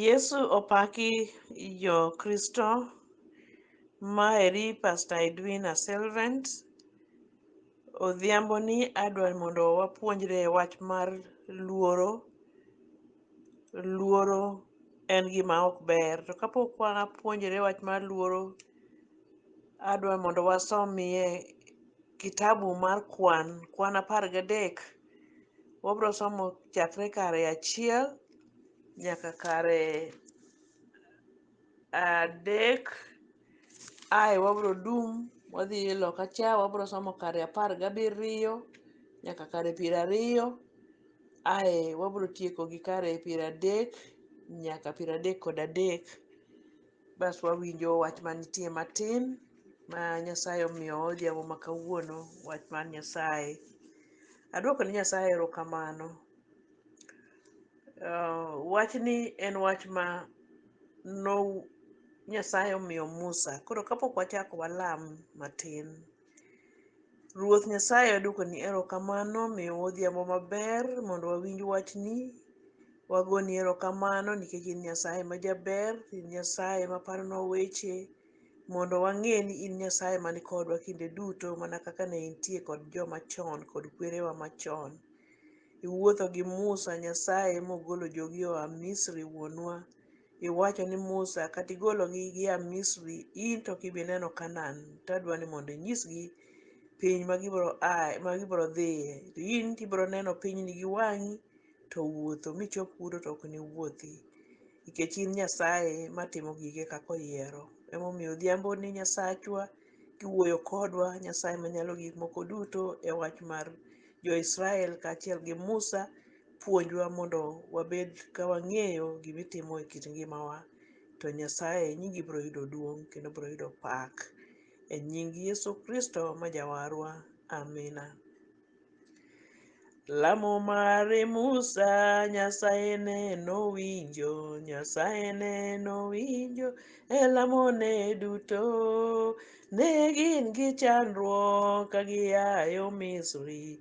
Yesu opaki jo Kristo. Ma eri Pastor Edwina Selvent. Odhiambo ni adwa mondo wapuonjre wach mar luoro. Luoro en gima ok ber. To kapok wapuonjre wach mar luoro, adwa mondo wasomie kitabu mar kwan, kwan apar gadek. Wabiro somo chakre kare achiel nyaka kare adek ae wabiro dum wadhi loka cha wabiro somo kare apar gabiriyo nyaka kare piero ariyo ae wabiro tieko gi kare piero adek nyaka piero adek kod adek Bas wawinjo wach manitie matin ma Nyasaye omiyo odhiambo ma kawuono, wach mar Nyasaye. Aduoko ne Nyasaye erokamano. Ah, Wachni en wach ma no Nyasaye omiyo Musa. Koro kapok wachako walam matin. Ruoth Nyasaye wadwokoni erokamano miyowa odhiambo maber mondo wawinj wachni. Wagoni erokamano nikech in Nyasaye ma jaber, in Nyasaye ma paronwa weche mondo wang'e ni in Nyasaye man kodwa kinde duto mana kaka ne intie kod joma chon kod kwerewa machon. Iwuotho gi Musa Nyasaye mogolo jogi oa Misri wuonwa. Iwacho ni Musa, 'Kata igologi gia Misri, in to ok ibi neno Kanaan, to adwa ni mondo inyisgi piny ma gibiro ae, ma gibiro dhiye. To in to ibiro neno pinyni gi wang'i, to wuotho michop kuno to ok niwuothi, nikech in Nyasaye matimo gige kaka oyiero. Emomiyo odhiamboni Nyasachwa kiwuoyo kodwa, Nyasaye Manyalo Gik Moko Duto, e wach mar jo-Israel kaachiel gi Musa puonjwa mondo wabed ka wang'eyo gima itimo e kit ngimawa to Nyasaye nyingi biro yudo duong' kendo biro yudo pak. E nying Yesu Kristo ma jawarwa, amina. Lamo mare Musa Nyasaye ne nowinjo, Nyasaye ne nowinjo e lamone duto. Ne gin gi chandruok ka giayo Misri,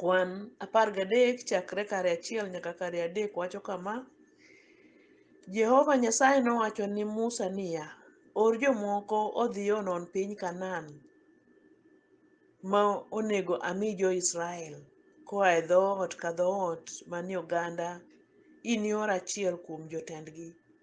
Kwan apar gadek chakre kare achiel nyaka kare adek wacho kama, Jehova Nyasaye nowacho ni Musa niya, Or jomoko odhi onon piny Kanaan ma onego ami jo-Israel koa e dhoot ka dhoot manie oganda, inior achiel kuom jotendgi.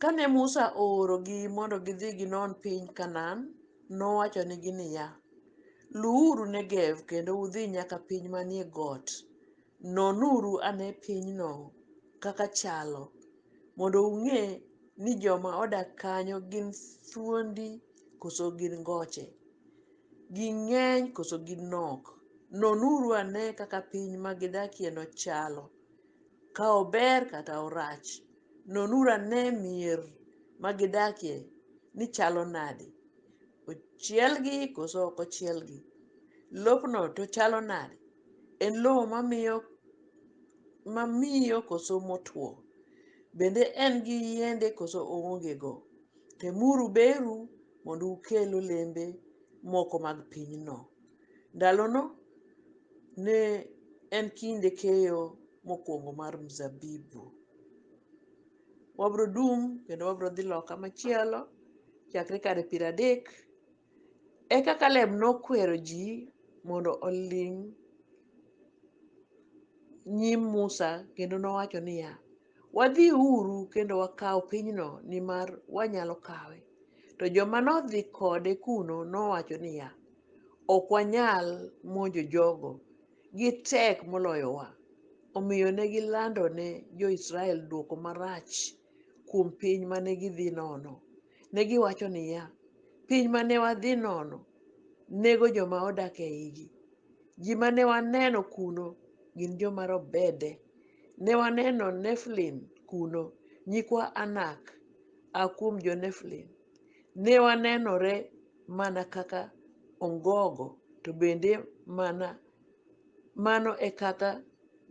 Kane Musa oorogi mondo gidhi ginon piny Kanaan, nowachonigi niya, Luwuru Negev kendo udhi nyaka piny manie got. Nonuru ane pinyno kaka chalo, mondo ung'e ni joma odak kanyo gin thuondi koso gin ngoche, ging'eny koso gin nok. Nonuru ane kaka piny ma gidakieno chalo. Ka ober kata orach, nonuru ane mier ma gidakie ni chalo nade. Ochielgi koso ok ochielgi? Lopno to chalo nade? En lowo mamiyo koso motwo? Bende en gi yiende koso oongego? Temuru beru mondo ukel olembe moko mag pinyno. Ndalono ne en kinde keyo mokwongo mar mzabibu. Wabro dum kendo wabro dhi loka machielo chakre kare piero adek. Eka Kaleb nokwero ji mondo oling' nyim Musa kendo nowacho niya, Wadhiuru kendo wakaw pinyno, nimar wanyalo kawe. To joma nodhi kode kuno nowacho niya, Ok wanyal monjo jogo, gitek moloyowa. Omiyo ne gilando ne Jo-Israel dwoko marach kuom piny ma ne gidhi nono. Ne giwacho niya, Piny ma ne wadhi nono nego joma odak e igi. Ji ma ne waneno kuno gin joma robede. Ne waneno Neflin kuno, nyikwa Anak a kuom jo-Neflin. Ne wanenore mana kaka ongogo, to bende mana mano e kaka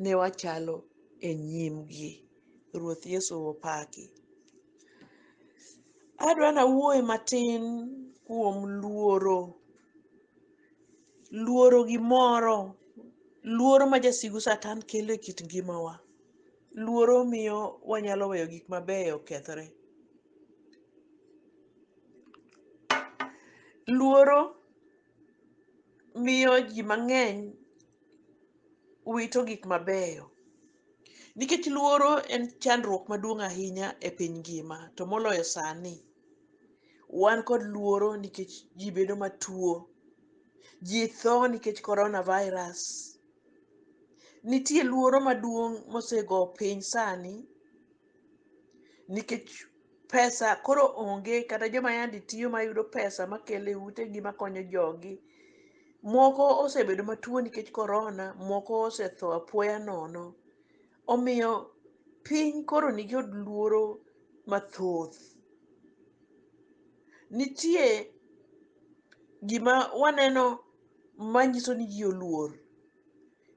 ne wachalo e nyimgi. Ruoth Yesu opaki. Adwa nawuoye matin kuom luoro. luoro gimoro luoro ma jasigu satan kelo e kit ngimawa luoro miyo wanyalo weyo gik mabeyo okethre luoro miyo ji mang'eny wito gik mabeyo Nikech luoro en chandruok maduong' ahinya e piny ngima, to moloyo sani. Wan kod luoro nikech ji bedo matuo. Ji tho nikech coronavirus. Nitie luoro maduong' mosego piny sani nikech pesa koro onge kata joma yandi tiyo mayudo pesa makele utegi makonyo jogi. Moko osebedo matuo nikech korona, moko osetho apoya nono. Omiyo piny koro nikod luoro mathoth. Nitie gima waneno manyiso ni ji oluor.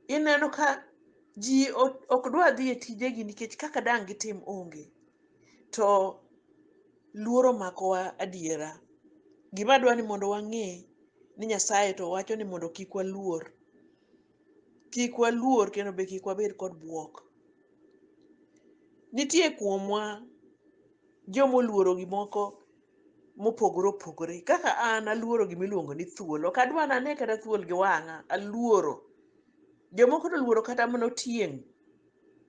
ineno ka ji ok dwa dhi e tijegi nikech kaka dang' gitim onge to luoro makowa adiera. Gima adwa ni mondo wang'e ni Nyasaye to wacho ni mondo kik waluor. Kik waluor kendo be kik wabed kod bwok. Nitie kuomwa jomoluoro gimoko mopogore opogore kaka an aluoro gima iluongo ni thuol ok adwa nane kata thuol gi wang'a aluoro jomoko to oluoro kata mana otieng'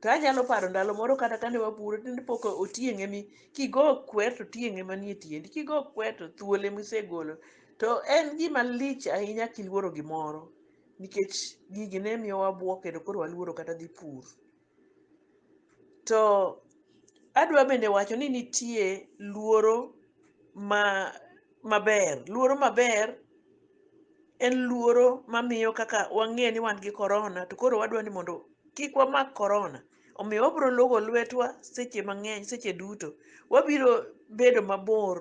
to anyalo paro ndalo moro kata kane waburo tinde pok otieng' emi kigo kwer to otieng' ema nie tiendi kigo kwer to thuol ema isegolo to en gima lich ahinya kiluoro gimoro nikech gigi ne miyo wabuok kendo koro waluoro kata dhi pur To adwa bende wacho ni nitie luoro ma maber. Luoro maber en luoro mamiyo kaka wang'e ni wan gi korona to koro wadwa ni mondo kik wamak korona. Omiyo wabiro logo lwetwa seche mang'eny seche duto. Wabiro bedo mabor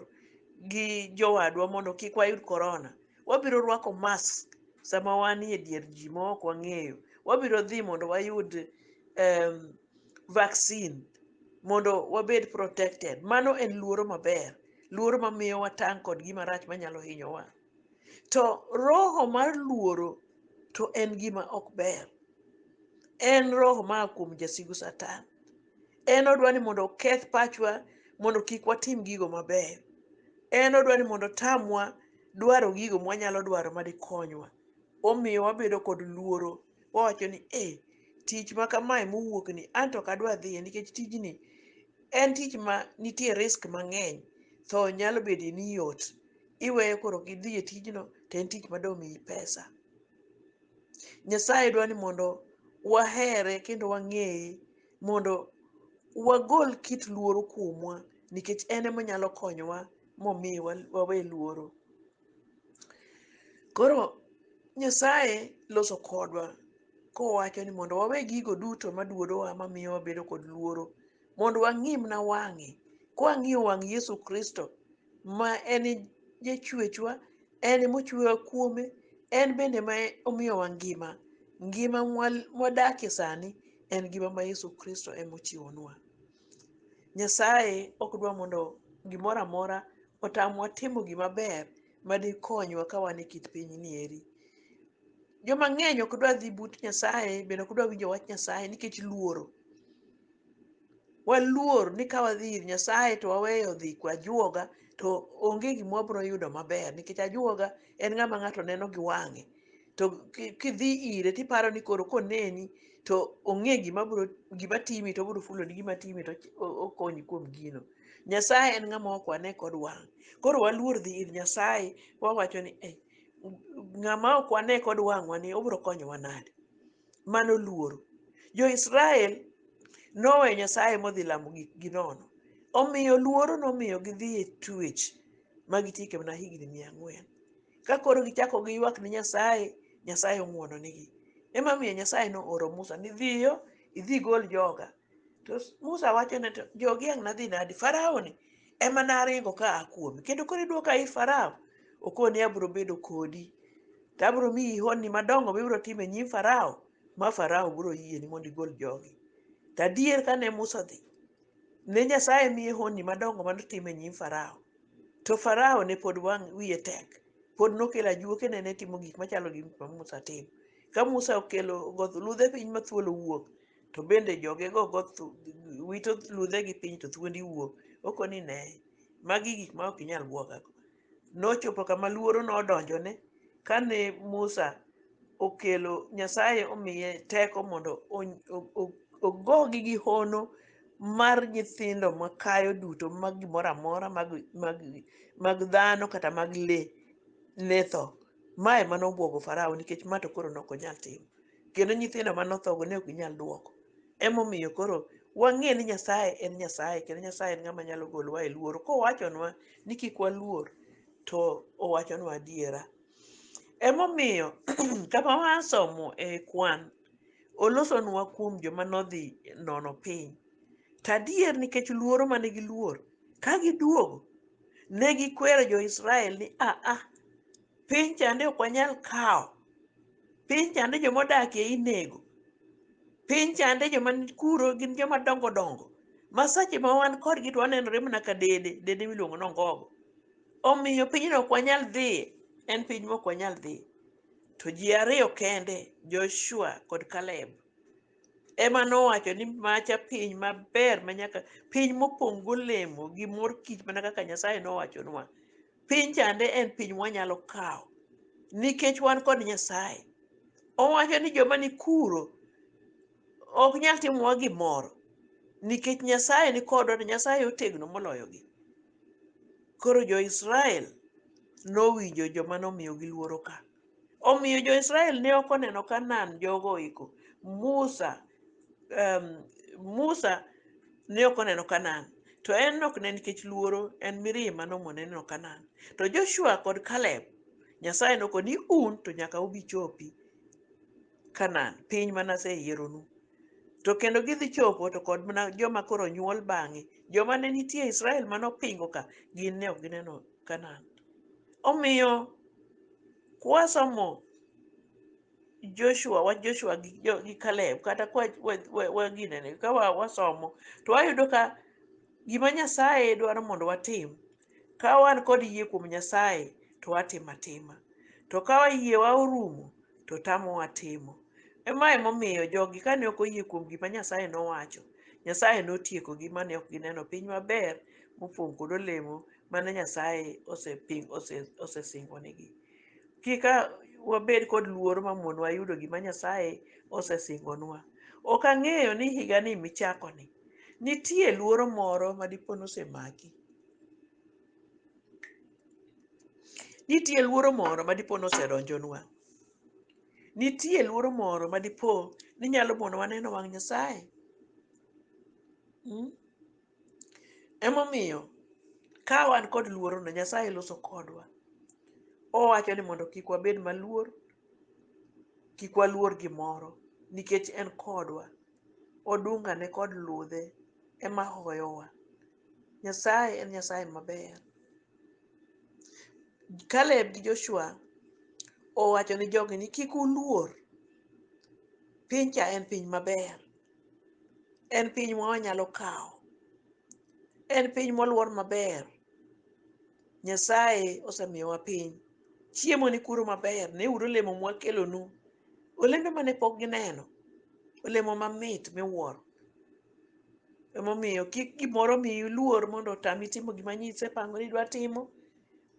gi jowadwa mondo kik wayud korona. Wabiro rwako mask sama wanie dier ji ma ok wang'eyo. Wabiro dhi mondo wayud em, vaccine mondo wabed protected. Mano en luoro maber, luoro mamiyo watang' kod gima rach manyalo hinyowa. To roho mar luoro to en gima ok ber. En roho maa kuom jasigu Satan. En odwa ni mondo oketh pachwa mondo kik watim gigo mabeyo. En odwa ni mondo otamwa dwaro gigo mwanyalo dwaro madikonywa. Omiyo wabedo kod luoro, wawacho ni e, tich ma kamae mowuok ni an to ok adwa dhiye nikech tijni en tich ma nitie risk mang'eny, tho nyalo bede ni yot. Iweyo koro ok idhi e tijno to en tich mado miyi pesa. Nyasaye dwa ni mondo wahere kendo wang'eye mondo wagol kit luoro kuomwa nikech en emonyalo konyowa momiyo wawe luoro. Koro Nyasaye loso kodwa kowacho ni mondo wawe gigo duto maduodowa mamiyo wabedo kod luoro mondo wang'imna wang'e kwang'iyo wang' Yesu Kristo ma en jachwechwa en mochwewa kuome en bende ma omiyowa ngima ngima mwal- mwadakie sani en ngima ma Yesu Kristo emochiwonwa Nyasaye ok dwa mondo gimoro amora otamwa timo gima ber ma dikonywa ka wan e kit pinyni eri. Joma ng'eny ok dwa dhi but Nyasaye bende ok dwa winjo wach Nyasaye nikech luoro. Waluor ni ka wadhi ir Nyasaye to waweyo dhi kwa ajuoga to onge gima wabiro yudo maber nikech ajuoga en ng'ama ng'ato neno gi wang'e. to ki- kidhi ire tiparo ni koro koneni to ong'e gima bro gima timi to obro fuloni gima timi to ochi- o- okonyi kuom gino nyasaye en ng'ama ok wane kod wang' koro waluor dhi ir nyasaye wawacho ni "Eh, ng'ama ok wane kod wang'wa ni obro konyowa nade mano luoro jo-israel noweyo nyasaye modhi lamo gik gi nono omiyo luoro nomiyo gidhi e tuech ma gitieke mana higni mia ang'wen ka koro gichako giywak ne Nyasaye, Nyasaye ong'wononigi. Emomiyo Nyasaye nooro Musa ni dhiyo, idhi gol joga. To Musa wacho ne to jogi ang' nadhi nadi? Farao ni ema naringo ka a kuome. Kendo koro idwoka ir Farao, okoni abiro bedo kodi. To abiro miyi honni madongo mibiro timo e nyim Farao, ma Farao biro yieni mondo igol jogi. To adier kane Musa odhi, Ne Nyasaye miye honni madongo ma notimo e nyim Farao. To Farao ne pod wang' wiye tek. Pod nokelo ajuoke ne ne timo gik machalo gi ma Musa timo. Ka Musa okelo goth ludhe piny ma thuol wuok, to bende jogego goth wito ludhegi piny to thuondi wuok. Okoni ne, magi gik ma ok inyal bwogago. nochopo kama luoro nodonjone kane Musa okelo Nyasaye omiye teko mondo ony- o- o- ogogi gi hono mar nyithindo makayo duto mag gimoro amora mag, mag, mag dhano kata mag le ne tho. Ma ema nobwogo Farao nikech ma to koro ne ok onyal timo. kendo nyithindo mane othogo ne ok ginyal duoko. Emomiyo koro wang'e ni Nyasaye en Nyasaye kendo Nyasaye en ng'ama nyalo golowa e luoro. Kowachonwa ni kik waluor to owachonwa adiera. Emomiyo kama wasomo e kwan olosonwa kuom joma nodhi nono piny. To adier nikech luoro mane giluor ka giduogo ne gikwero jo-Israel ni a a piny chande ok wanyal kawo. piny chande joma odakie inego piny chande joma kuro gin joma dongo dongo ma sache ma wan kodgi to wanenore mana ka dede dede miluongo ni ongogo omiyo pinyno ok wanyal dhiye en piny mok wanyal dhiye to ji ariyo kende joshua kod kaleb ema nowacho ni macha piny maber ma nyaka piny mopong' golemo gi mor kich mana kaka nyasaye nowachonwa piny chande en piny mwanyalo kawo nikech wan kod nyasaye owacho ni joma ni kuro ok nyal timowa gimoro nikech nyasaye ni kodwa to nyasaye otegno moloyogi koro jo-israel nowinjo joma nomiyogi luoro ka Omiyo jo-Israel ne ok oneno Kanaan jogo oiko. Musa, em, Musa ne ok oneno Kanaan. To en ok ne nikech luoro, en mirima nomone neno Kanaan. To Joshua kod Kaleb, Nyasaye noko ni un to nyaka ubi chopi Kanaan, piny mane aseyieronu. To kendo gidhi chopo to kod mana joma koro nyuol bang'e. Joma ne nitie e Israel mane opingo ka, gin ne ok gineno Kanaan. Omiyo kwasomo Joshua, wach Joshua gi, jo, gi Caleb, kata kwa, wa, wa, wa ginene, ka wa, wasomo, to wayudo ka gima Nyasaye dwaro mondo watim, ka wan kod yie kuom Nyasaye, to watimo atima. To ka yiewa orumo, to tamowa timo. Ema emomiyo jogi kane ok oyie kuom gima Nyasaye nowacho, Nyasaye notiekogi mane ok gineno piny maber mopong' kod olemo mane Nyasaye oseping ose- osesingonigi. Kik a- wabed kod luoro ma mon wayudo gima Nyasaye osesingonwa. Ok ang'eyo ni higani michakoni nitie luoro moro ma dipo nosemaki. Nitie luoro moro ma dipo nosedonjonwa. Nitie luoro moro ma dipo ni nyalo monowa neno wang' Nyasaye. Mm? Emomiyo ka wan kod luoro no Nyasaye loso kodwa. Owacho ni mondo kik wabed maluor, kik waluor gimoro nikech en kodwa. Odunga ne kod ludhe ema hoyowa. Nyasaye en Nyasaye maber. Kaleb gi Joshua owacho ni jogi ni kik uluor. Piny cha en piny maber. En piny ma wanyalo kawo. En piny moluor maber. Nyasaye osemiyowa piny. Chiemo ni kuro maber. Neuru olemo mwakelonu. Olembe mane pok gineno. Olemo mamit miwuoro. Emomiyo kik gimoro miyi luor mondo otami timo gima nyisepango ni idwa timo.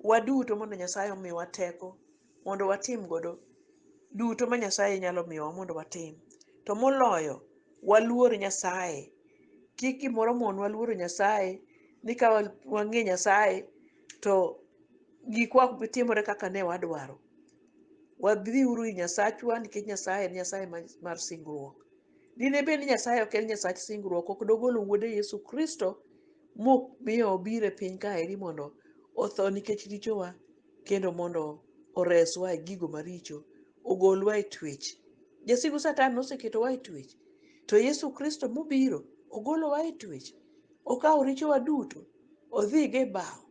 Waduto mondo Nyasaye omiwa teko. mondo watim godo duto ma Nyasaye nyalo miyowa mondo watim. To moloyo, waluor Nyasaye. Kik gimoro monwa luoro Nyasaye ni ka wa- wang'e Nyasaye to gikwa ok bi timore kaka ne wadwaro. Wadhiuru ir Nyasachwa nikech Nyasaye en Nyasaye ma- mar singruok. Dine bed ni Nyasaye ok en Nyasach singruok, ok dogolo Wuode Yesu Kristo momiyo obiro e piny kaeri mondo otho nikech richowa kendo mondo oreswa e gigo maricho, ogolwa e twech. Jasigu Satan noseketowa e twech, to Yesu Kristo mobiro ogolowa e twech. Okawo richowa duto, odhigo e bao.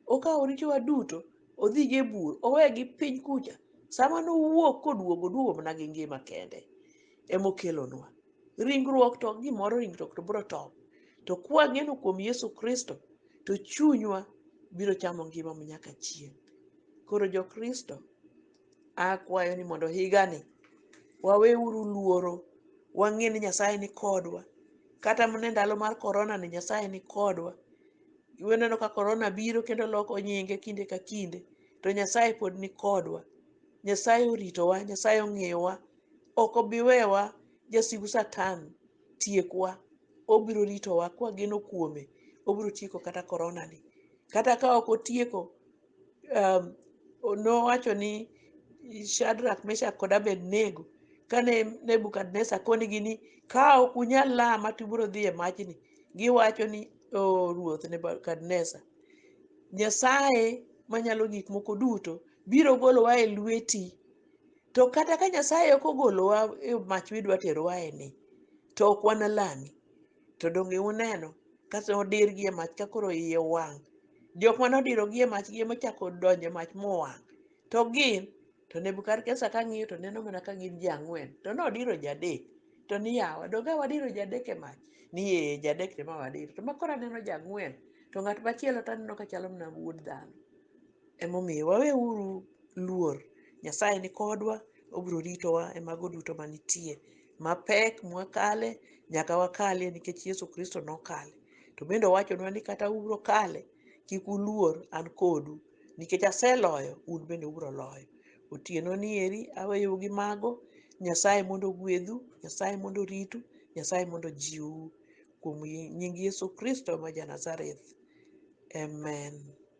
Okawo richowa duto, odhigo e bur, owegi piny kucha. Sama nowuok koduogo, oduogo mana gi ngima kende emokelonwa. Ringruok to ok gimoro, ringruok to biro top. To kwang'eno kuom Yesu Kristo, to chunywa biro chamo ngima ma nyaka chieng'. Koro jokristo, akwayo ni mondo higani waweuru luoro, wang'e ni Nyasaye ni kodwa. Kata mana e ndalo mar korona ni Nyasaye ni kodwa. Waneno ka korona biro kendo loko nyinge kinde ka kinde, to Nyasaye pod ni kodwa. Nyasaye oritowa, Nyasaye ong'eyowa, ok obi wewa jasigu satan tiekwa, obiro ritowa kwageno kuome, obiro tieko kata korona ni. Kata ka ok otieko, um, nowacho ni Shadrach, Meshach kod Abednego kane Nebukadnezar konigi ni ka ok unyal lama to ubiro dhi e majni, giwacho ni o ruoth Nebukadnezar, Nyasaye manyalo gik moko duto biro golowa e lweti to kata ka nyasaye ok ogolowa e mach midwa terowa e ni to ok wanalami to donge uneno kata odirgi e mach ka koro iye wang' jok mane odirogi e mach gi ema ochako donjo e mach mowang' to gin to nebukadnezar ka ng'iyo to neno mana ka gin ji ang'wen to nodiro jadek to ni yawa donge a wadiro jadek e mach ni ee jadek to ema wadiro to makoro aneno jang'wen to ng'at machielo to aneno ka chalo mana wuod dhano Emomiyo waweuru luor, Nyasaye ni kodwa, obiro ritowa e mago duto manitie. Mapek mwakale, nyaka wakalie nikech Yesu Kristo nokale. To bende owachonwa ni kata ubiro kale, kik uluor, an kodu. Nikech aseloyo, un bende ubiro loyo. Otieno ni eri aweyou gi mago, Nyasaye mondo ogwedhu, Nyasaye mondo oritu, Nyasaye mondo ojiwu. Kuom nying Yesu Kristo ma ja Nazareth, amen.